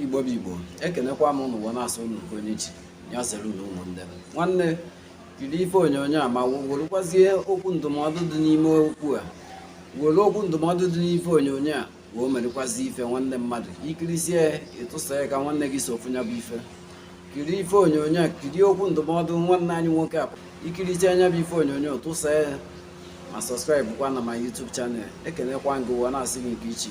igbo bụ igbo ekenekwa m ụnụ wee na-asị ụnụ nke onye chiri ya zere nụ ụmụnne m nwanne kiri ife onyonyo a ma werekwazie okwu ndụmọdụ dị n'ime okwu a were okwu ndụmọdụ dị n'ife onyonyo a wee merekwazi ife nwanne mmadụ i kirisie ị tụsa ya ka nwanne gị so fụ nya bụ ife kiri ife onyonyo a kiri okwu ndụmọdụ nwanne anyị nwoke a i kirisie nya bụ ife onyonyo tụsa ya ma subscribe kwa na my YouTube channel ekenekwa m gị wee na-asị gị nke i chi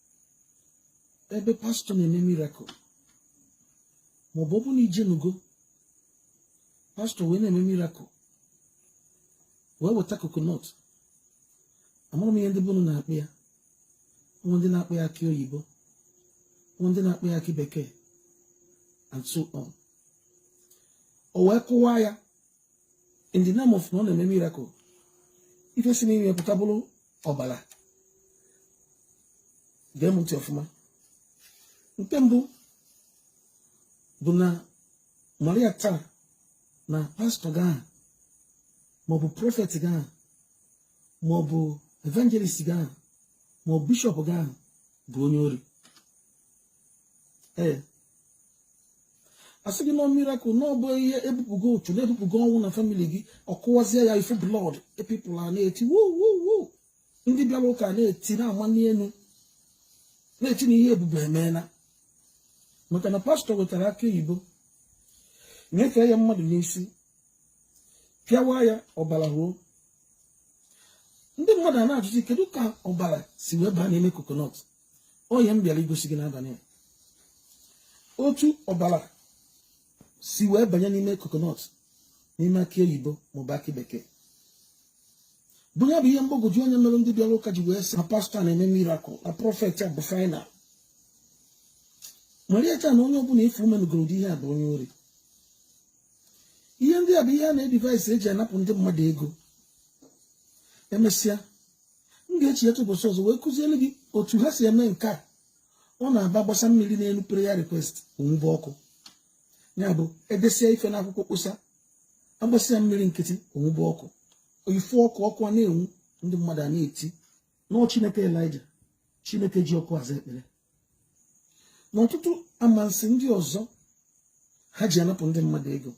ebe pastor na-eme miracle maọbụ ọ bụ na i jenugo pastor wee na-eme miracle wee weta coconut amarọ m ihe ndị be unu na-akpọ ya nwee ndị na-akpọ ya akị oyibo nwee ndị na-akpọ ya akị bekee and so on o wee kụwaa ya in the name of na ọ na-eme miracle ife si n'ime pụta bụrụ ọbara gee m ntị ọfụma nke mbụ bụ na marịa taa na pastor gị ahụ maọbụ prophet gị ahụ maọbụ evangelist gị ahụ maọbụ bishop gị ahụ bụ onye ori ee a sị gị na ọ miracle na ọ bụ ihe e bupụgo ụchụ na e bupụgo ọnwụ na family gị ọ kụwazie ya ị fụ blood ee people a na-eti wuwuwu ndị bịara ụka na-eti na-amani elu na-eti na ihe ebube emeela maka na pastor wetara akị oyibo nyefee ya mmadụ n'isi pịawa ya ọbara ruo ndị mmadụ a na-ajụzi kedu ka ọbara si wee baa n'ime coconut ọ ihe m bịara igosi gị n'abalị otu ọbara si wee banye n'ime coconut n'ime akị oyibo maọbụ akị bekee bụ ya bụ ihe mgbagwoju anya mere ndị bịara ụka ji wee sị na pastor na-eme miracle na prophet a bụ final marịa taa na onye ọbụla ị fụ megoro ụdị ihe a bụ onye ori ihe ndị a bụ ihe a na-edevise e ji anapụ ndị mmadụ ego emesịa m ga-eji otu ụbọchị ọzọ wee kụziere gị otu ha si eme nke a ọ na-abụ a gbasa mmiri n'elu prayer request o nwube ọkụ ya bụ e desịa ife n'akwụkwọ kposa a gbasịa mmiri nkịtị o nwube ọkụ ife ọkụ ọkụ a na-enwu ndị mmadụ a na-eti na ọ chineke elija chineke ji ọkụ aza ekpere na ọtụtụ amansi ndị ọzọ ha ji anapụ ndị mmadụ ego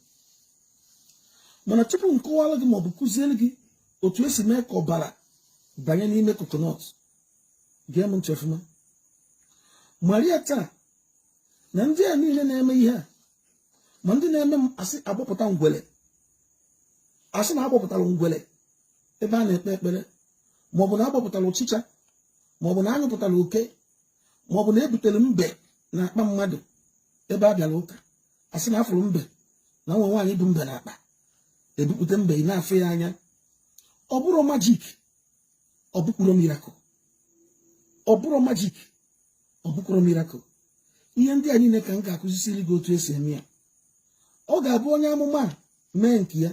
mana tupu m kọwara gị maọbụ kụziere gị otu e si mee ka ọbara banye n'ime coconut gee m ntị ọfụma marịa taa na ndị a niile na-eme ihe a ma ndị na-eme m asị agbọpụta ngwele asị na agbọpụtara ngwele ebe a na-ekpe ekpere maọbụ na agbọpụtara ọchịcha maọbụ na anyụpụtara oke maọbụ na ebutere mbe na akpa mmadụ ebe a bịara ụka asị na afụrụ mbe na nwa nwaanyị bu mbe na akpa ebupụta mbe ị na-afụ ya anya ọ bụrọ majik ọ bụkwurọ mirakụl ọ bụrọ majik ọ bụkwurọ mirakụl ihe ndị a niile ka m ga-akụzisiri gị otu esi eme ya ọ ga-abụ onye amụma mee nke ya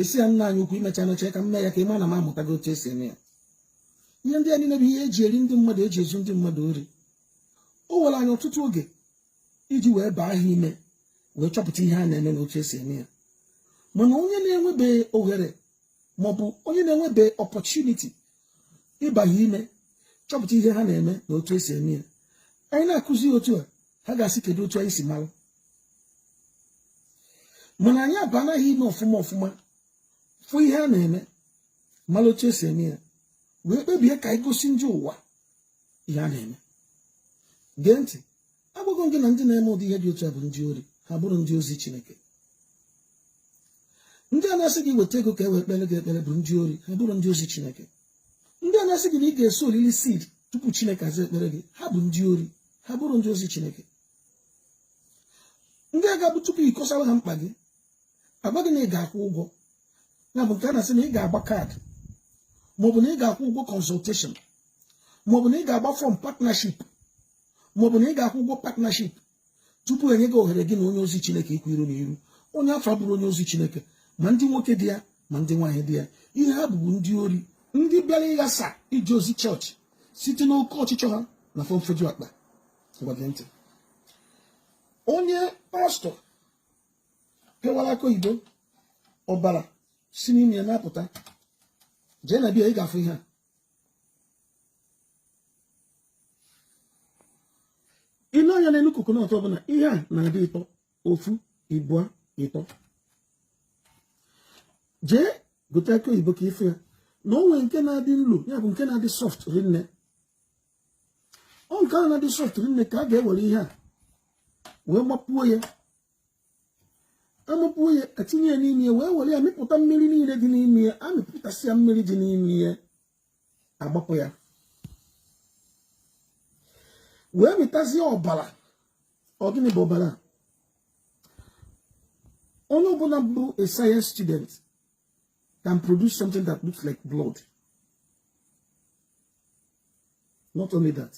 ị sị ya nna anyị ukwu imecha mecha ka m mee ya ka ị ma na m amụtago otu esi eme ya ihe ndị a niile bụ ihe eji eri ndị mmadụ eji ezu ndị mmadụ ori o were anyị ọtụtụ oge iji wee baa ha ime wee chọpụta ihe a na-eme na otu esi eme ya mana onye na-enwebeghị oghere maọbụ onye na-enwebeghị ọpọchuniti ịba ha ime chọpụta ihe ha na-eme na otu esi eme ya anyị na-akụzi otu a ha ga-asị kedu otu anyị si mara mana anyị abaana ha ime ọfụma ọfụma fụ ihe a na-eme mara otu esi eme ya wee kpebie ka anyị gosi ndị ụwa ihe a na-eme gee ntị agwago gị na ndị na-eme ụdị ihe dị otu a bụ ndị ori ha abụrọ ndị ozi Chineke ndị a na-asị gị weta ego ka e wee kpere gị ekpere bụ ndị ori ha abụrọ ndị ozi Chineke ndị a na-asị gị na ị ga-esoolili siid tupu Chineke aza ekpere gị ha bụ ndị ori ha abụrọ ndị ozi Chineke ndị a ga-abụ tupu ịkọsara ha mkpa gị agwa gị na ị ga-akwụ ụgwọ ya bụ nke a na-asị na ị ga-agba kaadị maọbụ na ị ga-akwụ ụgwọ kọnsọlteshọn maọbụ na ị ga-agba fọm partnership maọbụ na ị ga-akwụ ụgwọ partnership tupu enye gị ohere gị na onye ozi chineke ikwu iru na iru onye afụ abụrọ onye ozi chineke ma ndị nwoke dị ya ma ndị nwaanyị dị ya ihe ha bụ bụ ndị ori ndị bịara ịghasa ije ozi chọọchị site n'oke ọchịchọ ha na fọnfọju akpa ntị onye pastọ pịawara akị oyibo ọbara si n'ime ya na-apụta jee na bia ị ga-afụ ihe a i lee anya n'elu kokonọt ọbụla ihe a na-adị ịtọ ofu ịbụa ịtọ jee gote akị oyibo ka ị fụ ya na o nwe nke na-adị nlo ya bụ nke na-adị sọft rinne ọ nke ahụ na-adị sọft rinne ka a ga-ewere ihe a wee mapuo ya amapuo ya etinye ya n'ime ya wee were ya mịpụta mmiri niile dị n'ime ya amịpụtasịa mmiri dị n'ime ya agbapụ ya wee mịtazie ọbara ọ gịnị bụ ọbara onye ọbụla bụ a science student can produce something that looks like blood not only that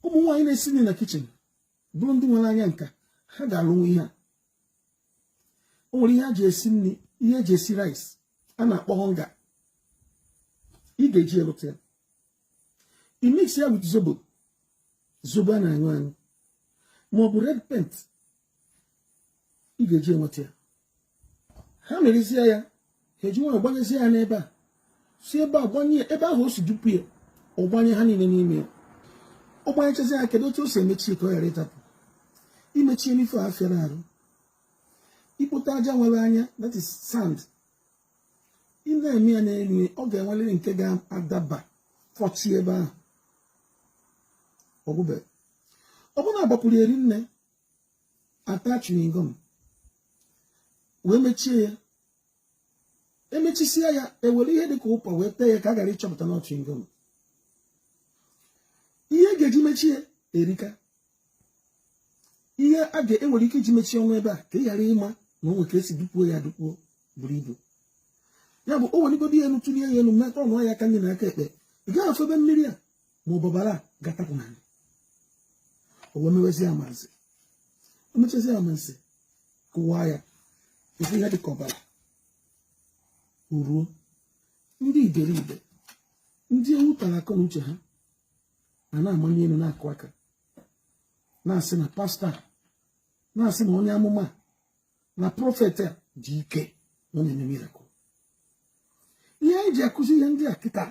ụmụ nwaanyị na-esi nri na kichin bụrụ ndị nwere anya nka ha ga-arụnwu ihe a o nwere ihe eji esi nri ihe eji esi rice a na-akpọ Onga ị ga-eji elụta ya ị mix ya with zobo zobo a na-aṅụ aṅụ ma ọ bụ red paint ị ga-eji enweta ya ha mịrịzie ya ha eji nwayọ gbanyezie ya n'ebe a si ebe a gbanye ebe ahụ o si dupu ya ọ gbanye ha niile n'ime ya ọ gbanyechazi ya kedu otu o si emechi ka ọ ghara ịtapụ imechi n'ife a fịara arụ i kpote aja nwere anya that is sand ị na-eme ya n'elu ọ ga-enwerịrị nke ga-adaba fọchi ebe ahụ ọ gwụbe ọ bụrụ na a gbapuru eri nne a ta chewing gum wee mechie ya emechisie ya ewere ihe dịka ụkwa wee tee ya ka a ghara ịchọpụta na chewing gum ihe a ga-eji mechie erika ihe e nwere ike iji mechie ọnụ ebe a ka ị ghara ịma na o nwere ka esi dupuo ya dupuo buru ibu ya bụ o weligodo ya elu tụlie ya elu metọ ọnụ ya aka nri na aka ekpe ị gaghị afụ ebe mmiri a ma ọ bụ ọbara ga-atapụ n'anị o wee mewezi ya amansi o mechazi ya amansi kụwaa ya a fụ ihe dịka ọbara ruo ndị iberibe ndị ewu tara akọ na uche ha a na-amali elu na-akụ aka na-asị na pastor na-asị na onye amụma na prophet a ji ike na ọ na-eme miracle ihe anyị ji akụzi ihe ndị a kịta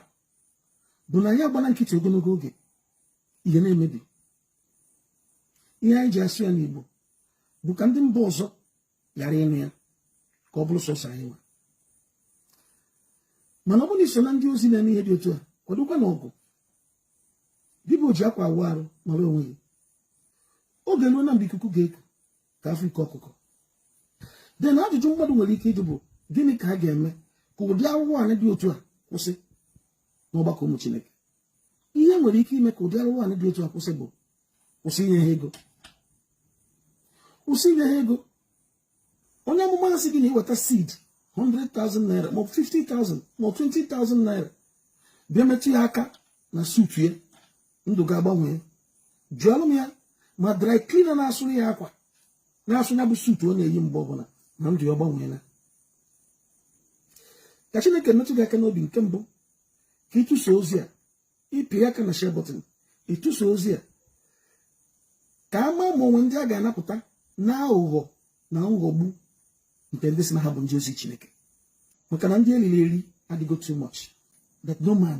bụ na anyị agbala nkịtị ogologo oge ihe na-emebi ihe anyị ji asụ ya n'Igbo bụ ka ndị mba ọzọ ghara ịnụ ya ka ọ bụrụ sọsọ anyị nwa mana ọ bụrụ na i so na ndị ozi na-eme ihe dị otu a kwadokwa na ọgụ dịbụ o ji akwa awụ arụ mara onwe ya oge eruola mgbe ikuku ga-eku ka a fụ ike ọkụkọ then ajụjụ mmadụ nwere ike ịjụ bụ gịnị ka a ga-eme ka ụdị arụrụ anị dị otu a kwụsị n'ọgbakọ ụmụ Chineke ihe nwere ike ime ka ụdị arụrụ anị dị otu a kwụsị bụ kwụsị inye ha ego kwụsị inye ha ego onye amụma asị gị na i weta seed 100,000 naira maọbụ 50,000 maọbụ 20,000 naira bịa metụ ya aka na suit ya ndụ gị agbanwee jụọlụ m ya ma dry cleaner na-asụrụ ya akwa na-asụ ya bụ suit ọ na-eyi mgbe ọbụla na ndụ ya ọ gbanweela ka chineke metụ gị aka n'obi nke mbụ ka ị tụsa ozi a ị pịa aka na share button ị tụsa ozi a ka a maa ma o nwe ndị a ga-anapụta na aghụghọ na nghọgbu nke ndị sị na ha bụ ndị ozi chineke maka na ndị eriri eri adịgo too much that no man